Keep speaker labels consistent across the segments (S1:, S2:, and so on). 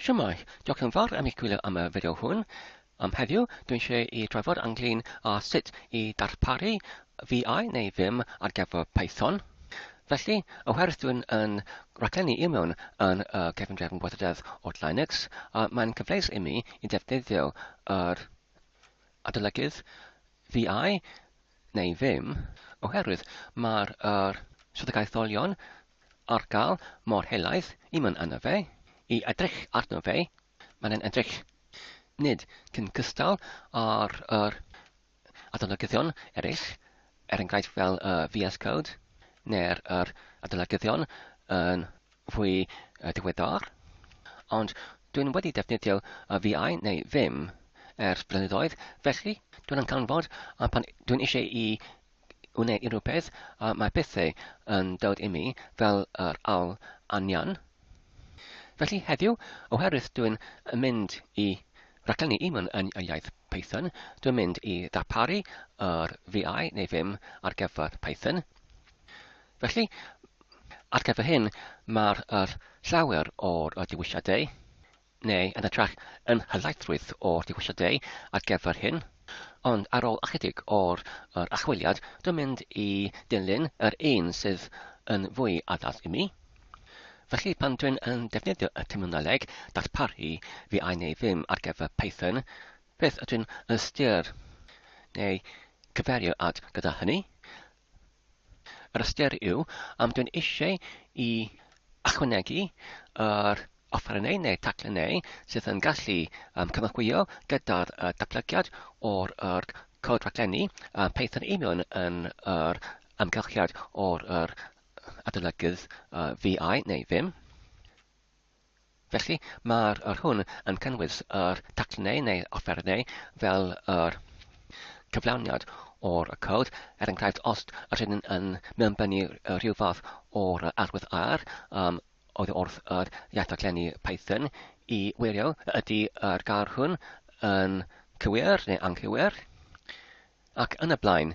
S1: Shwmae, diolch yn fawr am eich gwylio am y fideo hwn. Am heddiw, dw i'n siarad i drafod ynglŷn â sut i darparu VI neu Vim ar gyfer Python. Felly, oherwydd dw i'n yn raglennu i mewn yn y cefn drefn gweithrededd od Linux, mae'n cyfleus i mi i ddefnyddio yr adolygydd VI neu ddim, oherwydd mae'r yr swyddogaetholion ar gael mor helaeth i mynd arno fe, i edrych arno fe, mae'n yn edrych, nid cyn cystal â'r yr adolygyddion eraill, er enghraifft fel y VS Code, neu'r yr adolygyddion yn fwy diweddar, ond dwi'n wedi defnyddio VI neu Vim ers blynyddoedd, felly dwi'n yn canfod pan dwi'n eisiau i wneud unrhyw beth, mae pethau yn dod i mi fel yr awl anian. Felly heddiw, oherwydd dwi'n mynd i raglenni Eamon yn y iaith Python, dwi'n mynd i ddarparu yr VI neu Vim ar gyfer Python. Felly, ar gyfer hyn, mae'r yr llawer o'r y dewisiadau, neu yn hytrach, yn helaethrwydd o'r dewisiadau ar gyfer hyn, ond ar ôl ychydig o'r yr achwiliad, dwi'n mynd i dilyn yr un sydd yn fwy addas i mi. Felly, pan dwi'n yn defnyddio y terminoleg darparu fi ai neu ddim ar gyfer Python, beth ydw'n ystyr neu cyferio at gyda hynny? Yr ystyr yw, am dwi'n eisiau i ychwanegu yr offerynnau neu taglynnau sydd yn gallu um, cynorthwyo gyda'r uh, datblygiad o'r er, cod raglenni uh, Python union yn yr amgylchiad o'r er, adolygydd uh, VI neu ddim. Felly, mae'r yr hwn yn cynnwys yr taclunau neu offerynnau fel yr cyflawniad o'r y cod, er enghraifft os ydyn nhw'n yn mewnbynnu rhyw fath o'r arwydd ar um, oedd wrth yr iaith-daglennu Python i wirio ydy yr gair hwn yn cywir neu anghywir ac yn y blaen.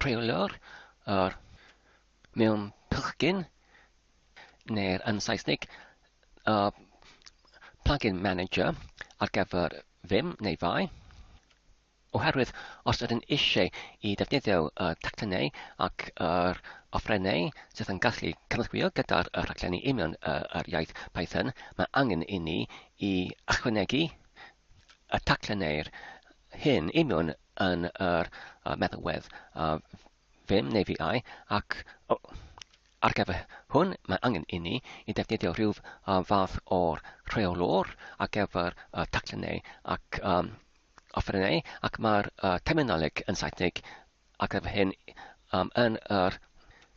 S1: rheolio'r yr mewn plugin neu'r yn Saesneg y plugin manager ar gyfer Vim neu Fai. Oherwydd os ydyn eisiau i ddefnyddio y teclynnau ac yr offerynnau sydd yn gallu cynorthwyo gyda'r y rhaglenni union y, yr iaith Python, mae angen i ni i ychwanegu y teclynnau'r hyn union yn yr uh, meddalwedd uh, ddim neu fiau ac oh, ar gyfer hwn mae angen i ni i defnyddio rhyw uh, fath o'r rheolwr ar gyfer uh, taclennau ac um, offerynnau ac mae'r uh, terminoleg yn Saesneg ar gyfer hyn um, yn yr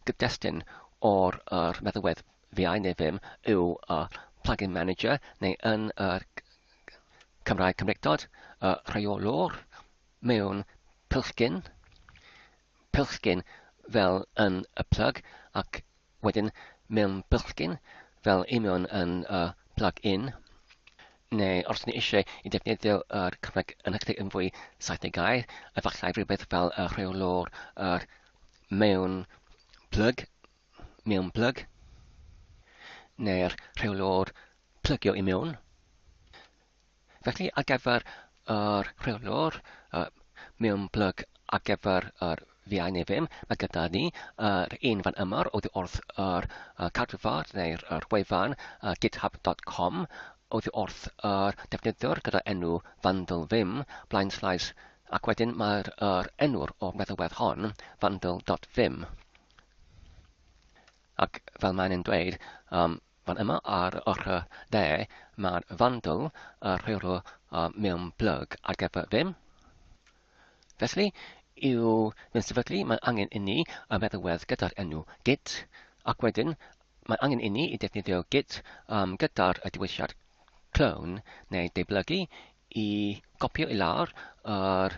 S1: gydestyn o'r er meddalwedd Fi ai neu ddim yw y plugin manager neu yn yr Cymraeg Cymreictod, y rheolwr mewn pilchgyn, pilchgyn fel yn y plug ac wedyn mewn pilchgyn fel union yn y plug-in, neu os ni eisiau i defnyddio yr Cymraeg yn hytrach yn fwy saithdeg gair, efallai rhywbeth fel y rheolwr yr mewn plug mewn plyg, neu'r rheolwr plygio i mewn. Felly, ar gyfer yr rheolwr uh, mewn plyg ar gyfer yr fiau neu ddim, mae gyda ni yr uh, un fan yma oddi wrth yr uh, cadwfar neu'r uh, wefan uh, github.com oedd wrth yr uh, defnyddiwr gyda enw Vandal Vim, blaen slaes, ac wedyn mae'r er enw'r o'r meddalwedd hon, vandal.vim. Ac fel mae'n yn dweud um, fan yma ar yr ochr dde, mae'r fandl a rheolw um, mewn plug ar gyfer ddim. Felly, i'w mewn sefydlu, mae angen inni y meddalwedd gyda'r enw git, ac wedyn mae angen inni i defnyddio git um, gyda'r y diwysiad clone neu deiblygu i gopio i lawr yr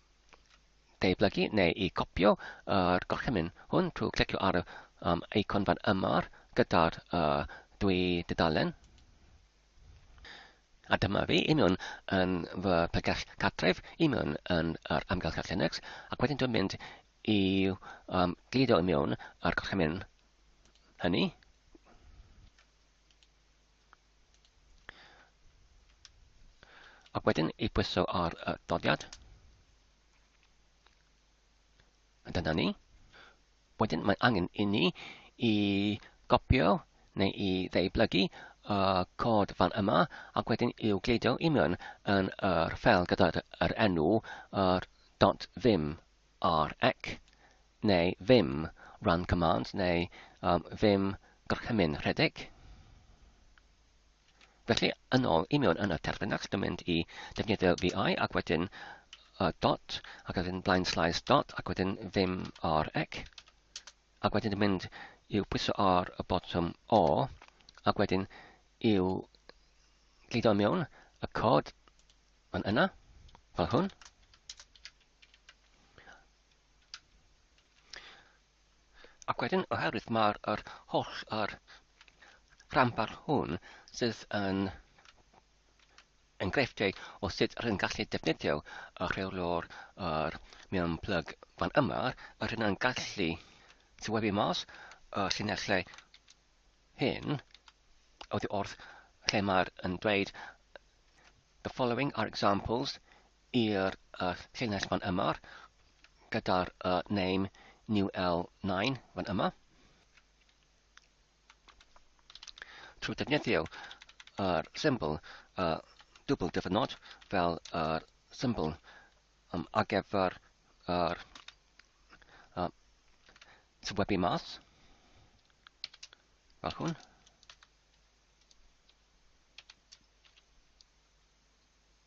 S1: deublygu neu i gopio yr gorchymyn hwn trwy clicio ar y um, eicon fan yma gyda'r uh, dwy dudalen. A dyma fi i mewn yn fy pregell cartref, i mewn yn yr amgylchedd Linux, ac wedyn dwi'n mynd i um, glidio i mewn ar gorchymyn hynny. Ac wedyn i pwyso ar y dodiad. A dyna ni. Wedyn mae angen i ni i gopio neu i ddeiblygu y cod fan yma ac wedyn i'w gleidio i mewn yn yr ffel gyda'r enw yr dot ddim ar ac neu ddim run command neu um, ddim gorchymyn rhedeg. Felly, yn ôl i mewn yn y terfynach, dwi'n mynd i defnyddio VI ac wedyn uh, dot, ac wedyn blaen slaes dot, ac wedyn ddim ar ac. Ac wedyn dwi'n mynd i'w pwyso ar y botwm O, ac wedyn i'w glido mewn y cod yn yna, fel hwn. Ac wedyn, oherwydd mae'r er holl yr rhanbar hwn sydd yn enghreifftiau o sut rydyn gallu defnyddio y rheolwr yr mewn plyg fan yma, a rydyn gallu tywebu mas y llinellau hyn oddi wrth lle mae'r yn dweud the following are examples i'r uh, llinell fan yma gyda'r uh, name new L9 fan yma. Trwy defnyddio yr uh, symbol uh, dwbl dyfynod fel yr uh, symbol um, ar gyfer yr uh, uh, tywebu mas fel hwn.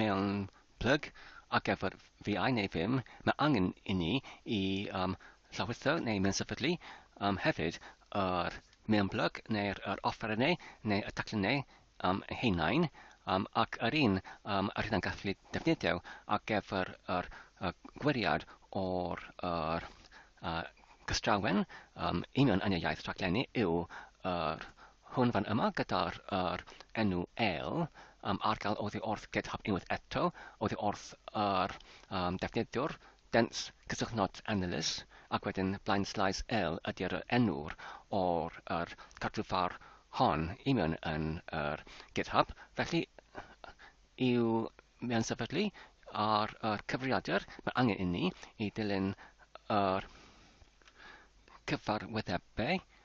S1: mewn plyg ac ef yr fi ai neu ddim, mae angen i ni i um, llawrytho neu mensefydlu um, hefyd yr mewn plyg neu'r yr offerynnau neu y taclynnau um, heinain um, ac yr un um, yr hynna'n gallu defnyddio ac ef yr, yr, yr gwiriad o'r yr, uh, gystrawen um, union yn y iaith rhaglenni yw yr Hwn fan yma gyda'r yr enw el am argael oddi wrth GitHub unwaith eto, oddi wrth yr um, defnyddiwr, dense cysylltnod analyst, ac wedyn blaen slais el ydy'r yr enw'r o'r yr cartrwfar hon i mewn yn yr GitHub. Felly, i'w mewn sefydlu ar yr cyfrifiadur, mae angen inni i dilyn yr cyfarwyddebau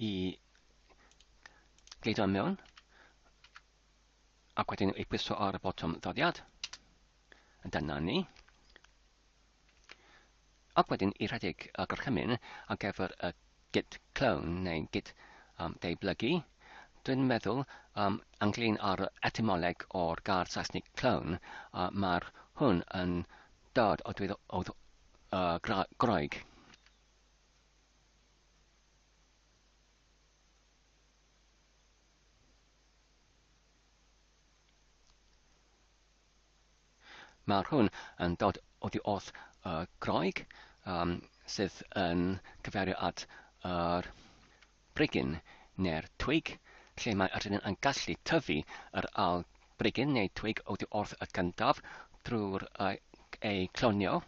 S1: i gleidio mewn ac wedyn ei pwyso ar y botwm ddoddiad. Dyna ni. Ac wedyn i rhedeg y gorchymyn ar gyfer y git clone neu git um, deiblygu. Dwi'n meddwl um, ynglyn â'r etymoleg o'r gair Saesnig clone, uh, mae'r hwn yn Dad a dweud oedd uh, gra graig. Mae hwn yn dod oddi wrth uh, graig um, sydd yn cyferu at yr uh, brigyn neu'r twig, lle mae yr rhedyn yn gallu tyfu yr ail brigyn neu twig oddi wrth y gyntaf drwy'r eu clonio.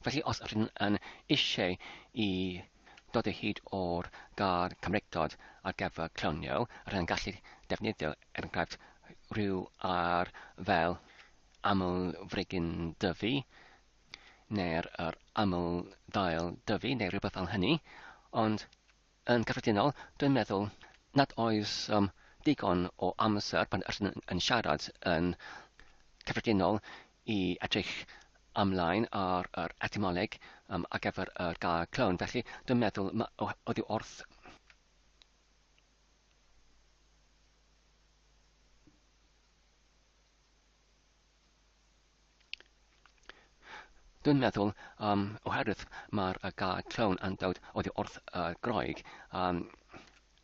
S1: Felly os rydyn yn eisiau i dod o hyd o'r gair Cymreictod ar gyfer clonio, rydyn yn gallu defnyddio, er enghraifft, rhyw ar fel aml-frigyn dyfu, neu'r yr aml-ddail dyfu, neu rhywbeth fel hynny, ond Yn gyffredinol, dwi'n meddwl nad oes um, digon o amser pan rydyn yn siarad yn cyffredinol i edrych ymlaen ar yr etymoleg um, ar gyfer yr gair clone. Felly, dwi'n meddwl oedd wrth Dwi'n meddwl, um, oherwydd mae'r y gair clown yn dod oddi wrth y Groeg, um,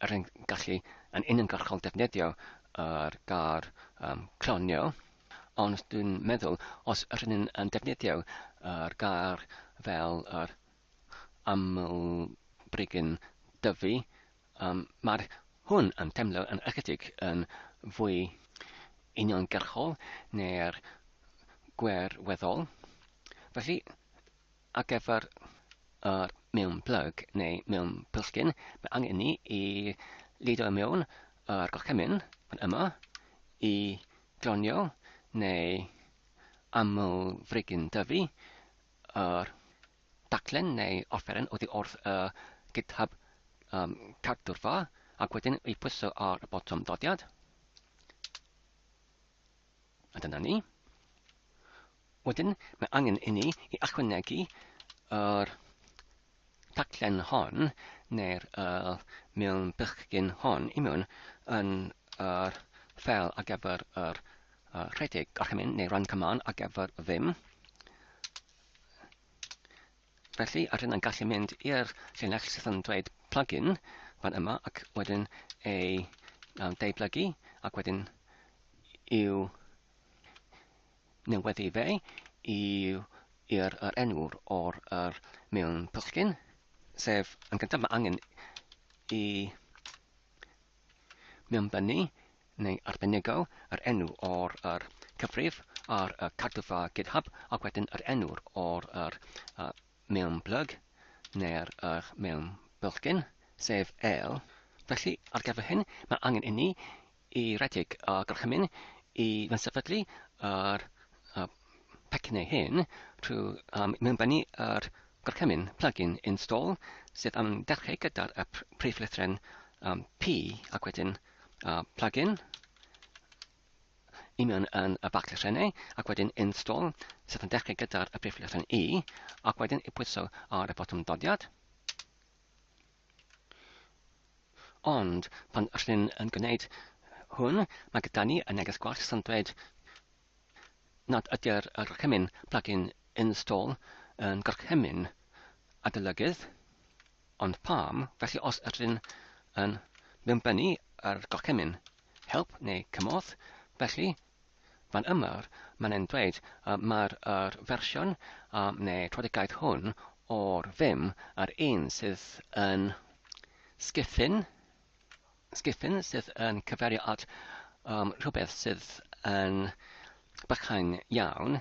S1: er yn gallu yn uniongyrchol defnyddio yr gair um, clonio, ond dwi'n meddwl os yr yn yn defnyddio yr gair fel yr aml brigyn dyfu, Yym, mae hwn yn teimlo yn ychydig yn fwy uniongyrchol na'r gwêr weddol. Felly, ar gyfer yr mewn plyg neu mewn plisgyn, mae angen ni i lido i mewn yr gorchymyn fan yma i gronio neu aml frigyn dyfu yr daclen neu offeren oddi wrth y GitHub um, cadwrfa ac wedyn ei pwyso ar y botwm dodiad. A dyna ni. Wedyn, mae angen i ni i ychwanegu yr taclen hon neu'r uh, mewn bychgyn hon i mewn yn yr fel ar gyfer yr uh, rhedeg gorchymyn neu run command ar gyfer ddim. Felly, a rydyn yn gallu mynd i'r llinell sydd yn dweud plugin fan yma ac wedyn ei um, deiblygu ac wedyn i'w neweddu fe i'r er enwr o'r er mewn pwllgyn, sef yn gyntaf mae angen i Mewnbynnu, neu arbenigo, yr enw o'r yr cyfrif ar y cardyffa GitHub ac wedyn yr enw o'r yr y mewnblyg neu'r yr mewnbylchgyn, sef el. Felly, ar gyfer hyn, mae angen inni i redeg y gorchymyn i fynsefydlu yr y Pecyn ei hun, trwy um, mewnbennu yr gorchymyn plug-in install sydd yn dechrau gyda'r y prif lythren um, P ac wedyn uh, plug-in i mewn yn y bac lythrennau ac wedyn install sydd yn dechrau gyda'r y prif lythren E ac wedyn i pwyso ar y botwm dodiad. Ond pan rydyn yn gwneud hwn, mae gyda ni y neges gwell sy'n dweud nad ydy'r gorchymyn plug-in install yn gorchymyn adolygydd, ond pam, felly os ydyn yn mewnbynnu ar gorchymyn help neu cymorth, felly fan yma mae'n ein dweud y mae'r yr fersiwn um, neu trafodigaeth hwn o'r Vim a'r un sydd yn sgithyn Sgefin sydd yn cyfeirio at um, rhywbeth sydd yn bychain iawn,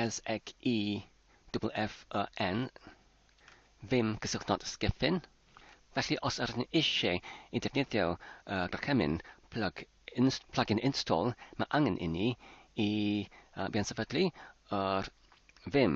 S1: S-X-E-F-F-E-N, ddim cysylltnod sgefin. Felly os ydych chi'n eisiau i defnyddio uh, docemin plug in, plug-in install, mae angen inni i uh, fynd sefydlu yr ddim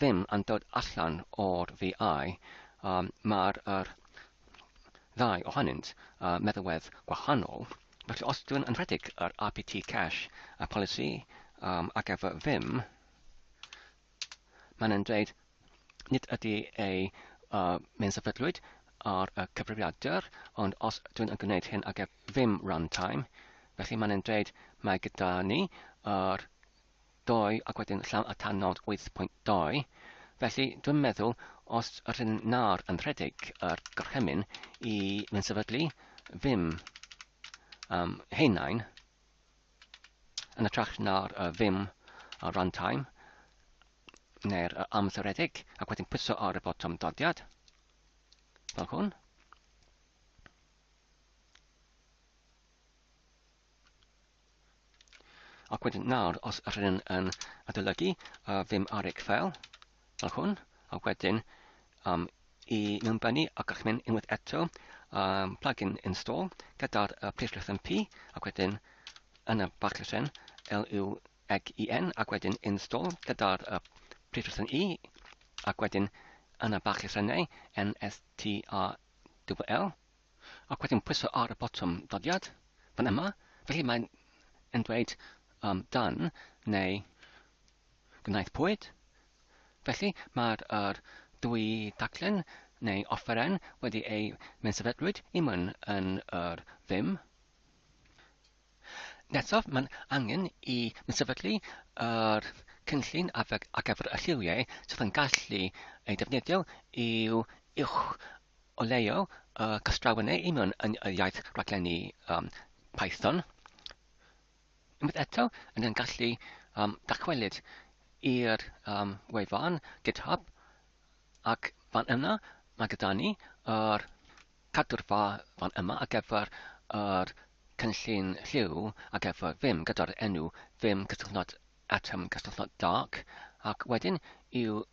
S1: ddim yn dod allan o'r VI, mae'r ddau ohonynt â meddalwedd gwahanol, felly os dwi'n yn rhedeg yr RPT cash y polisi ar gyfer Vim, mae'n yn dweud nid ydy ei mae'n sefydlwyd ar y cyfrifiadur, ond os dwi'n yn gwneud hyn ar gyfer Vim runtime, felly mae'n yn dweud mae gyda ni yr dou ac wedyn llaw a tan nod wyth pwynt dou. Felly, dwi'n meddwl, os rydyn na'r yn rhedeg yr gorchymyn i fynd sefydlu ddim um, heinain, yn y trach na'r uh, ddim a runtime, neu'r uh, amseredig, ac wedyn pwyso ar y botwm dodiad, fel hwn. Ac wedyn nawr, os yr hyn yn adolygu uh, ddim ar eich fel, fel hwn, a wedyn um, i mewnbynnu ac a'ch mynd unwaith eto um, plugin install gyda'r uh, preislwch yn P ac wedyn yn y bach llysen LU ag EN ac wedyn install gyda'r uh, preislwch yn E ac wedyn yn y bach llysenau NSTRWL ac wedyn pwyso ar y botwm dyddiad fan yma, felly mae'n yn dweud um, dan neu gwnaethpwyd. Felly mae'r er dwy daclen neu offeren wedi ei mensafelrwyd i myn yn yr ddim. Nesaf, mae'n angen i mi sefydlu yr cynllun ar gyfer y lliwiau sydd yn gallu ei defnyddio i'w uwch O leiaf, y castrawen neu union yn y iaith raglenni um, Python. Unwaith eto, yn ein gallu um, dachwelyd i'r um, wefan GitHub ac fan yna mae gyda ni yr cadw'r fa fan yma ar gyfer yr cynllun lliw ar gyfer Vim gyda'r enw Vim cysylltnod atom cysylltnod dark ac wedyn i'w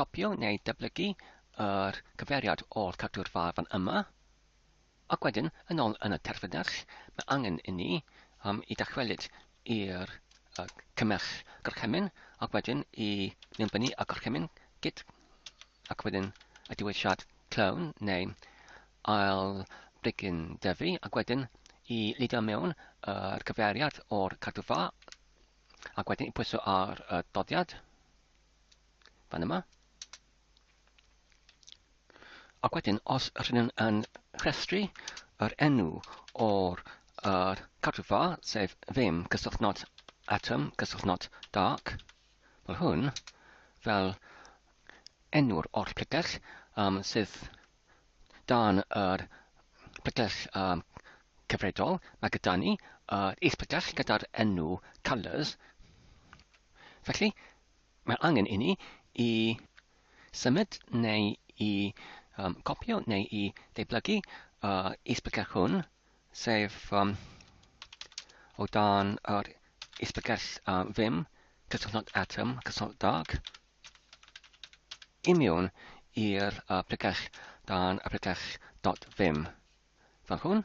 S1: Copïo neu dyblygu yr cyfeiriad o'r cadw'r far fan yma, ac wedyn yn ôl yn y terfynnerch, mae angen i ni um, i dachwelyd i'r uh, cymerch gorchymyn, ac wedyn i linbynnu y gorchymyn gyd, ac wedyn y diwylliad clown neu ail brigyn dyfu, ac wedyn i lidio mewn yr cyfeiriad o'r cadw'r far, ac wedyn i pwyso ar y doddiad. fan yma. Ac wedyn, os rydyn nhw'n yn rhestru yr enw o'r uh, cadwfa, sef ddim cysylltnod atom, cysylltnod dark, fel hwn, fel enw'r oll pletell um, sydd dan yr pletell um, cyfredol, mae gyda ni uh, is-pletell gyda'r enw colours. Felly, Mae angen inni i symud neu i um, copio neu i ddeiblygu uh, isbygell hwn, sef um, o dan yr isbygell uh, ddim, cysylltnod atom, cysylltnod dag, imiwn i'r uh, pregell dan y pregell dot ddim. Fel hwn.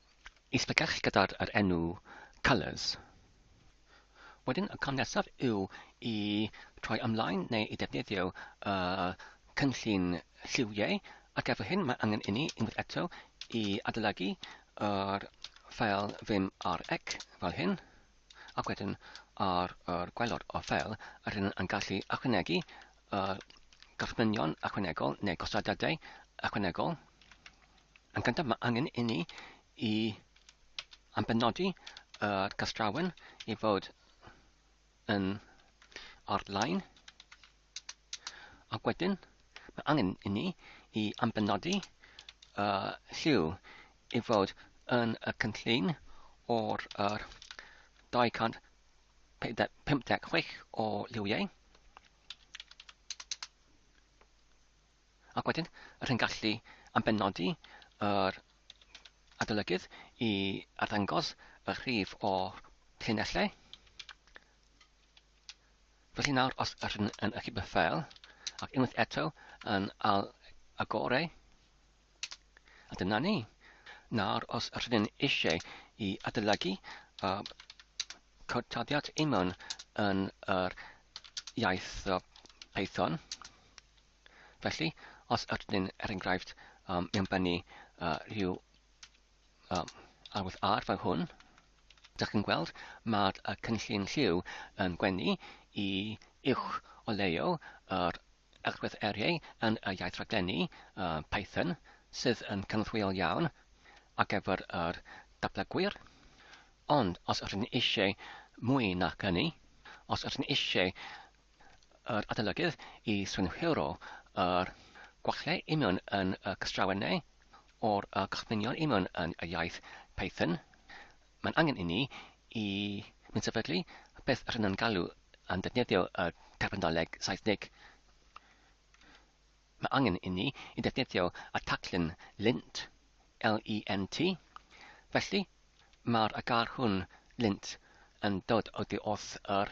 S1: Y sbecell gyda'r yr enw colours. Wedyn y cam nesaf yw i troi ymlaen neu i ddefnyddio y cynllun lliwiau ac efo hyn mae angen inni unwaith eto i adolygu yr ffeil vim rec fel hyn ac wedyn ar yr gwaelod o'r ffeil yr hyn yn gallu ychwanegu y gorchmynion ychwanegol neu gosodadau ychwanegol Yn gyntaf, mae angen i ni i ambenodi y castrawen i fod yn ar-lein. Ac wedyn, mae angen i ni i ambenodi y lliw i fod yn y cynllun o'r er 256 o liwiau. Ac wedyn, yr hyn gallu am benodi yr adolygydd i arddangos y rhif o llinellau. Felly nawr, os yr hyn yn ychydig beth fel, ac unwaith eto yn al agorau, A dyna ni. Nawr, os rydyn eisiau i adolygu a cod taddiad Amon yn yr iaith Python, felly, os rydyn, er enghraifft, um, mewn bynnu uh, rhyw um, arwydd ar fel hwn. Dych chi'n gweld, mae'r uh, cynllun lliw yn gwenu i uwch o leio yr agwedd eriau yn y iaith raglenni uh, Python sydd yn cynorthwyol iawn ar gyfer yr dablygwyr. Ond os ydych chi'n eisiau mwy na hynny, os ydych chi'n eisiau yr adolygydd i synhwyro yr gwallau union yn y cystrawen neu o'r y cychwynion union yn y iaith Python, mae'n angen i ni i mynd sefydlu beth yr yna'n galw yn defnyddio y terminoleg Saesnig. Mae angen i ni i defnyddio y taclyn lint, L-E-N-T, felly mae'r agar hwn lint yn dod oddi wrth yr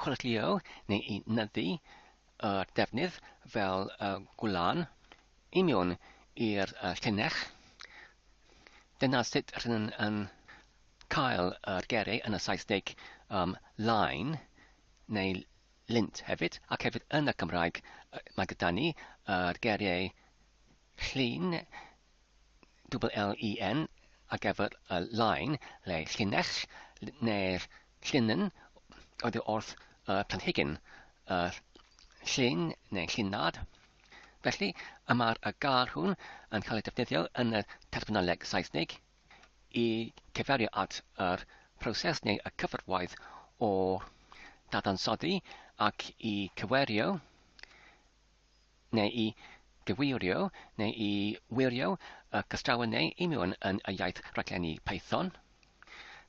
S1: chwyrlïo neu i nyddu y defnydd fel y gwlân i mewn i'r llinell. Dyna sut rydyn yn cael yr geiriau yn y Saesneg um, line neu lint hefyd, ac hefyd yn y Cymraeg mae gyda ni yr geiriau llun double L-E-N ar gyfer y line le llinell neu'r llinnen oddi wrth y planhigyn, y llun neu llinad. Felly, y mae'r y gair hwn yn cael ei defnyddio yn y terfynoleg Saesnig i cyferio at yr proses neu y cyfarwaith o dadansoddi ac i cywerio neu i gyfeirio neu i wirio y cystrawen neu union yn y iaith raglenni Python.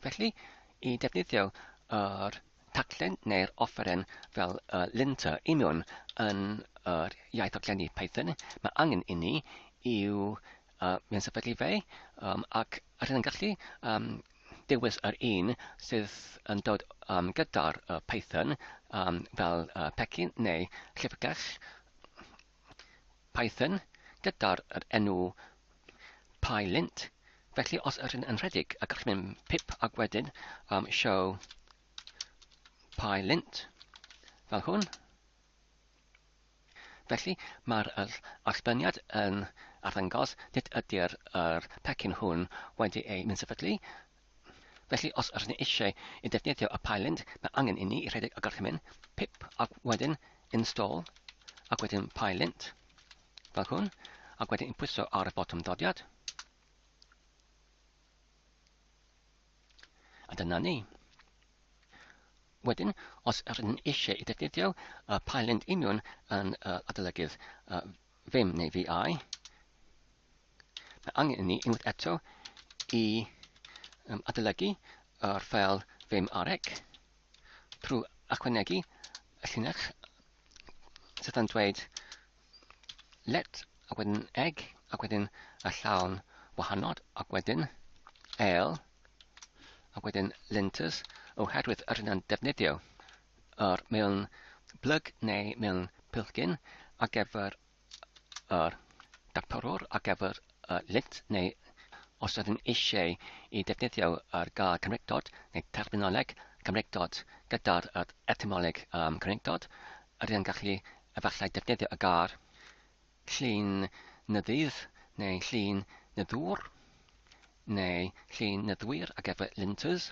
S1: Felly, i defnyddio yr taglen neu'r offeren fel y linter union yn yr iaith raglenni Python, mae angen inni i'w A mae'n sefydlu fe, um, ac rydyn yn gallu um, dewis yr un sydd yn dod um, gyda'r uh, Python um, fel uh, pecyn neu llyfrgell Python gyda'r enw PyLint. Felly os ydyn yn rhedeg a gallwn mynd pip ac wedyn um, show PyLint fel hwn. Felly, mae'r allbaniad yn arddangos nid ydy'r yr pecyn hwn wedi ei ninsefydlu. Felly, os rydyn ni eisiau i ddefnyddio y pylend, mae angen inni i rhedeg y gorchymyn, pip, ac wedyn install, ac wedyn pylent, fel hwn, ac wedyn pwyso ar y botwm dodiad. A dyna ni. Wedyn, os rydyn ni eisiau i defnyddio uh, Pylend Union yn uh, adolygydd uh, Vim neu VI, mae angen i ni unwaith eto i um, adolygu yr ffel Vim arec trwy ychwanegu y llinell sydd yn dweud let, ac wedyn egg, ac wedyn y llawn wahanod, ac wedyn ale, ac wedyn linters, oherwydd yr hyn yn defnyddio yr mewn blyg neu mewn pilgyn ar gyfer yr dactorwr, ar gyfer y lint neu os ydym eisiau i ddefnyddio yr gair Cymreictod neu terminoleg Cymreictod gyda'r etymolleg am Cymreictod, rydyn yn gallu efallai defnyddio y gair llun nyddydd neu llun nyddwr neu llun nyddwyr ac efo linters.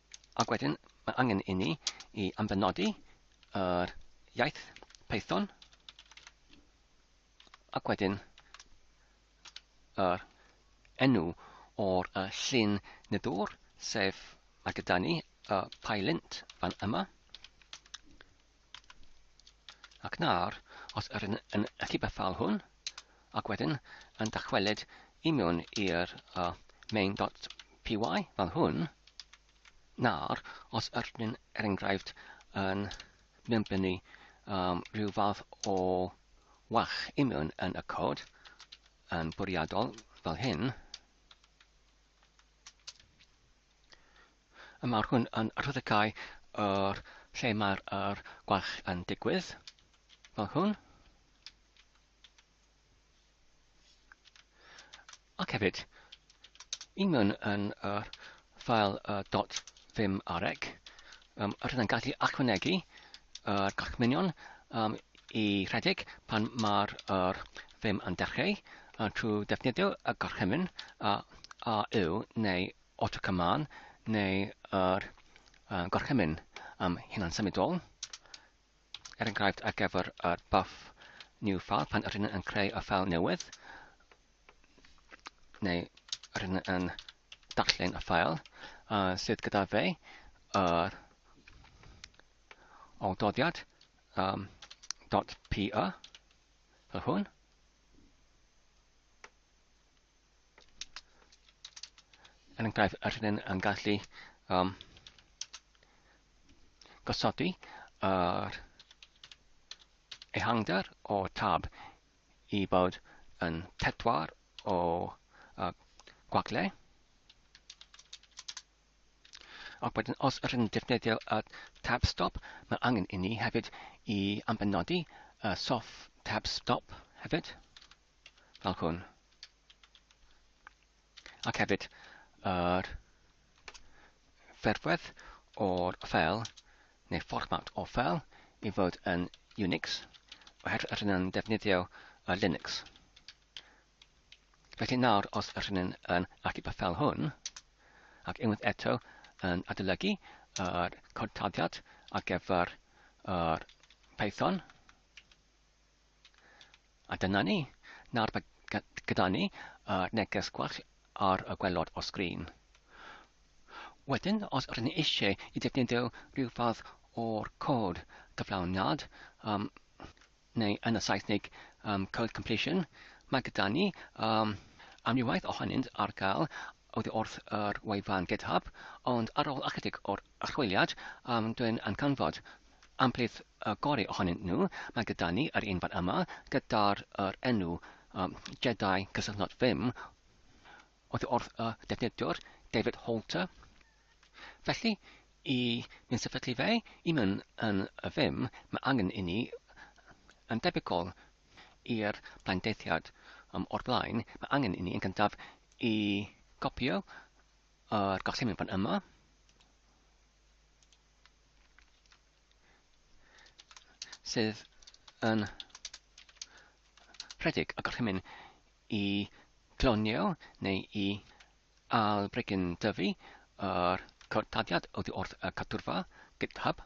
S1: Ac wedyn, mae angen i ni i ambenodi yr iaith Python ac wedyn yr enw o'r uh, llun nid o'r, sef mae gyda ni y uh, pylint fan yma. Ac nawr, os yr yn yn allu bethau hwn, ac wedyn yn dychwelyd i mewn i'r uh, main.py fel hwn, nawr, os yr yn er enghraifft yn mynblynu um, rhyw fath o wach i mewn yn y cod yn bwriadol fel hyn, A mae'r hwn yn rhyddhau yr lle mae'r er gwell yn digwydd, fel hwn. Ac hefyd, i mewn yn yr ffael uh, dot ddim areg, Um, rydyn yn gallu ychwanegu yr gorchmynion um, i rhedeg pan mae'r er ddim yn dechrau uh, trwy defnyddio y gorchymyn a, a yw neu autocommand neu yr uh, gorchymyn um, hunan symudol. er enghraifft ar gyfer yr buff new file pan ydyn yn creu y ffael newydd neu ydyn yn darllen y ffael uh, sydd gyda fe yr uh, doddiad um, .py fel hwn yn enghraifft, a rydyn yn gallu um, gosodi yr ehangder o tab i bod yn pedwar o uh, gwagle. Ac wedyn, os ydyn ni'n defnyddio y tab stop, mae angen i ni hefyd i ambenodi y soft tab stop hefyd. fel hwn. Ac hefyd yr ferfedd o'r fel neu fformat o fel i fod yn Unix oherwydd yr hynny'n defnyddio y Linux. Felly nawr, os yr hyn yn achub y ffel hwn, ac unwaith eto yn adolygu yr cortadiad ar gyfer yr Python, A dyna ni. Nawr mae gyda ni y neges gwell ar y gwelod o sgrin. Wedyn, os rydyn ni eisiau i defnyddio rhyw fath o'r cod cyflawniad, um, neu yn y Saesnig um, code completion, mae gyda ni um, amrywaeth ohonynt ar gael oddi wrth yr wefan GitHub, ond ar ôl ychydig o'r archwiliad, um, dwi'n yn canfod amplith y gorau ohonyn nhw. Mae gyda ni yr un fan yma, gyda'r yr enw um, Jedi Cysylltnod Vim, oddi wrth y defnyddiwr David Holter. Felly, i ni'n sefydlu fe, i mewn yn y Vim, mae angen i ni yn debygol i'r blaendeddiad o'r blaen, mae angen i ni yn gyntaf i gopio yr gorchymyn fan yma. sydd yn rhedeg y gorchymyn i glonio neu i albregyn dyfu yr codaddiad oddi wrth y cadwrfa GitHub.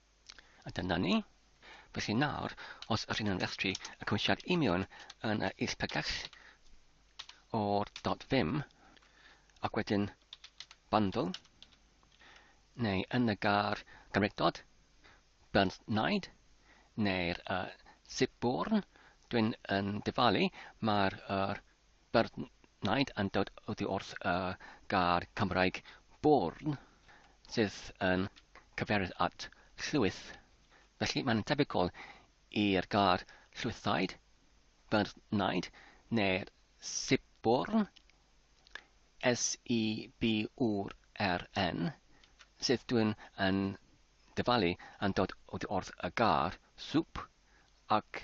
S1: A dyna ni. Felly nawr, os ydyn nhw'n rhestru y cymwysiad union yn y is pregeth o'r dot ddim, ac wedyn bundle, neu yn y gar gymregdod, burnt naid, neu'r uh, zip born, dwi'n yn dyfalu, mae'r uh, Beirniaid yn dod oddi wrth y gair Cymraeg 'bourne', sydd yn cyfeirio at llwyth, felly mae'n debygol i'r gair 'llwythaid', 'beirniaid' neu'r 'sibwrn', SIBWRN, sydd dwyn yn dyfalu yn dod oddi wrth y gair 'soup' ac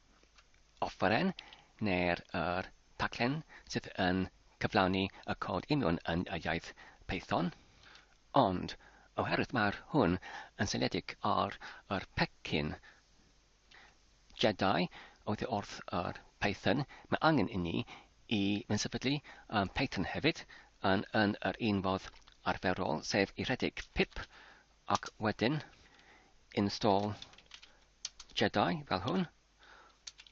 S1: offeryn neu'r yr taglen sydd yn cyflawni y cod union yn y iaith Python, ond oherwydd mae'r hwn yn seiliedig ar yr pecyn Jedi oddi wrth yr Python, mae angen inni i fynnsefydlu yn Python hefyd yn yn yr un fodd arferol, sef i rhedeg pip ac wedyn install Jedi fel hwn,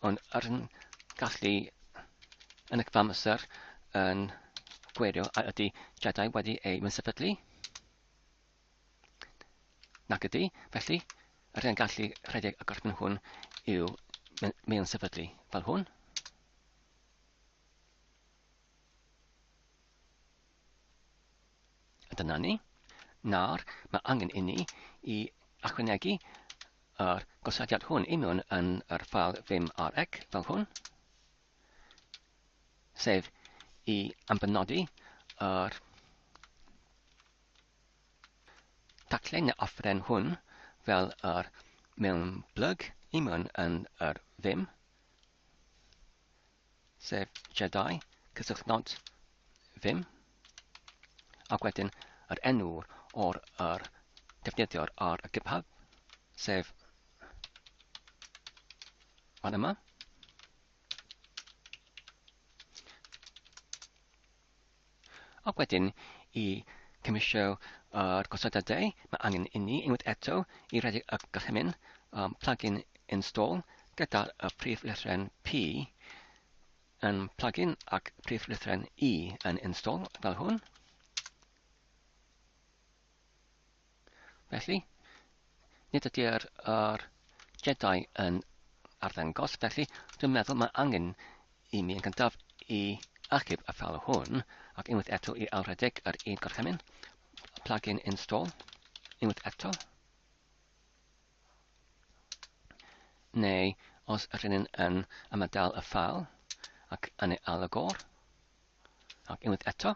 S1: ond ar yn gallu yn y cyfam amser yn gwerio a ydy Jedi wedi ei mynsefydlu. Nac ydy, felly yr hyn gallu rhedeg y gorffen hwn yw mewn sefydlu fel hwn. A dyna ni. Nawr, mae angen inni i achwynegu yr gosodiad hwn i mewn yn yr ffael ddim ar ec fel hwn, sef i ambenodi yr taclen neu offeren hwn fel yr mewn blyg i mewn yn yr ddim. sef Jedi, cysylltnod ddim, ac wedyn yr enw o'r yr defnyddiwr ar y GitHub, sef fan yma. Ac wedyn, i gymysio â'r gosodadau, mae angen inni, unwaith eto, i redeg y gorchymyn, um, plug-in install, gyda y prif lythren P yn plug-in ac prif lythren E yn install, fel hwn. Felly, nid ydy'r yr Jedi yn arddangos, felly dwi'n meddwl mae angen i mi yn gyntaf i achub y ffal hwn, ac unwaith eto i ailredeg yr un gorchymyn, plug-in install, unwaith eto, neu os yr hynny'n yn ymadael y ffal ac yn ei alygor, ac unwaith eto,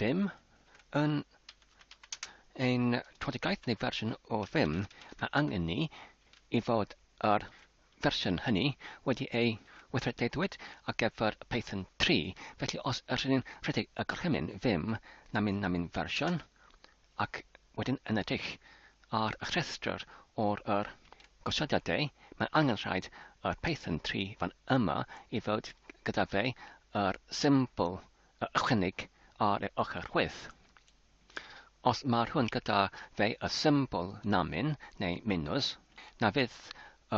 S1: Vim. Yn ein twedigaeth neu fersiwn o Vim, mae angen ni i fod yr fersiwn hynny wedi ei weithredeidwyd ar gyfer Python 3, felly os ydych chi'n rhedeg y gorchymyn Vim namin namin fersiwn, ac wedyn yn edrych ar y rhestr o'r yr gosodiadau, mae angen rhaid yr Python 3 fan yma i fod gyda fe yr symbol a ychwaneg ar ei ochr chwith. Os marwn gyda fe y symbol namin neu minus, na fydd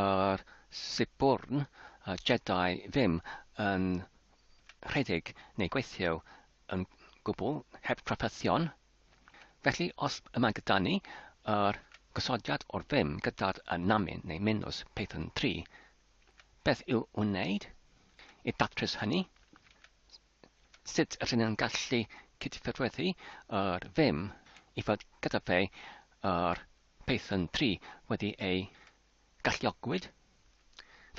S1: yr Siburn y Jedi ddim yn rhedeg neu gweithio yn gwbl heb drafferthion. Felly os y mae gyda ni yr gosodiad o'r ddim gyda'r y namin neu minus Python 3, beth i'w wneud i ddatrys hynny? sut rydyn nhw'n gallu cydffurfweddu â'r Vim i fod gyda fe ar Python 3 wedi ei galluogwyd.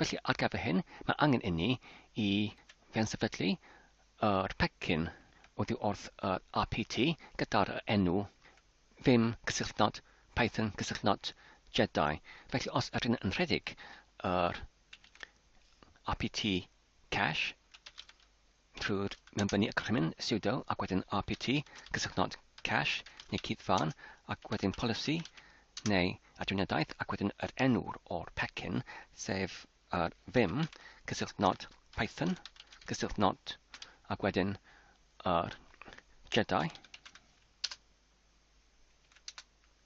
S1: Felly ar gyfer hyn, mae angen inni i fyansefydlu yr pecyn oddi wrth yr RPT gyda'r enw Vim cysylltnod Python cysylltnod Jedi. Felly os ydyn yn rhedeg yr RPT Cache, trwy mewnbynnu y gorchymyn sudo ac wedyn rpt, cysylltnod cache neu cyd-fân ac wedyn polisi neu adriniadaeth ac wedyn yr enw o'r pecyn, sef yr vim, cysylltnod python, cysylltnod ac wedyn yr jedi.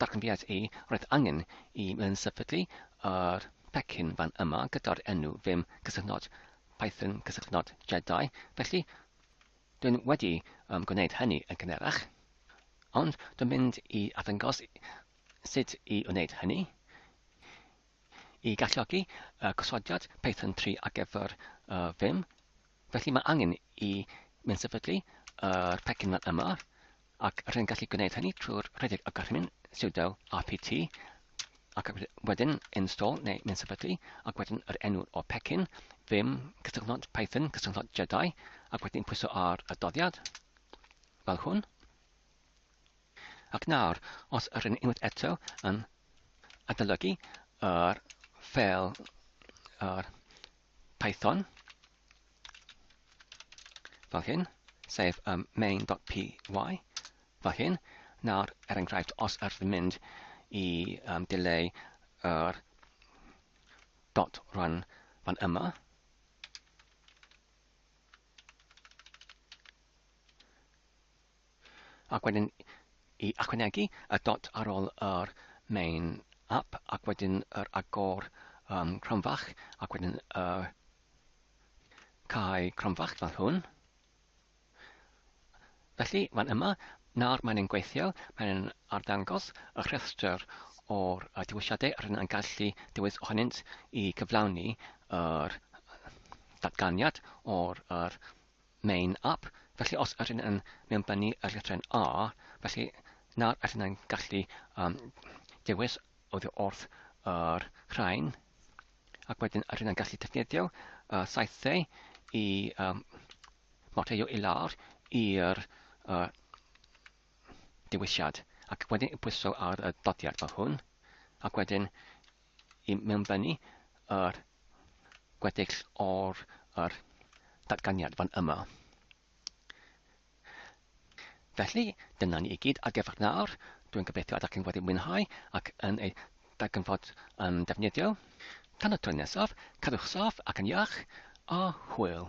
S1: Darganfyddiais i, roedd angen i Myn sefydlu yr pecyn fan yma gyda'r enw Vim cysylltnod Python cysylltnod Jedi, felly dwi'n wedi um, gwneud hynny yn gynerach. Ond dwi'n mynd i addangos sut i wneud hynny i galluogi uh, gosodiad Python 3 ar gyfer uh, Vim. Felly mae angen i mynd sefydlu yr uh, pecyn fan yma, ac rwy'n gallu gwneud hynny trwy'r rhedeg y gorchymyn sudo apt ac wedyn install neu mynd sefydlu ac wedyn yr enw o pecyn ddim cysylltnod Python cysylltnod Jedi ac wedyn pwyso ar y doddiad fel hwn ac nawr os yr yn unwaith eto yn adolygu yr ffel yr Python, fel hyn, sef um, main.py, fel hyn. Nawr, er enghraifft, os ydych chi'n mynd i um, dileu yr dot run fan yma, ac wedyn i ychwanegu y dot ar ôl yr main app ac wedyn yr agor um, cromfach ac wedyn y uh, cae cromfach fel hwn. Felly, fan yma, nawr mae'n ein gweithio, mae'n arddangos y rhestr o'r uh, dewisiadau rydyn yn gallu dewis ohonynt i gyflawni yr datganiad o'r, yr Main up, felly os ydyn yn mewnbynnu y llythrau'n A, felly nawr ydyn yn gallu um, dewis oddi wrth yr rhain, ac wedyn ydyn yn gallu defnyddio uh, saethau i um, marteio i lawr i'r uh, dewisiad, ac wedyn pwyso ar y dodiad fel hwn, ac wedyn i mewnblenni yr gweddill o'r yr datganiad fan yma. Felly, dyna ni i gyd ar gyfer nawr. Dwi'n gobeithio ydych chi'n wedi mwynhau ac yn ei darganfod yn defnyddiol. Tan y tro nesaf, cadwch saff ac yn iach, a hwyl!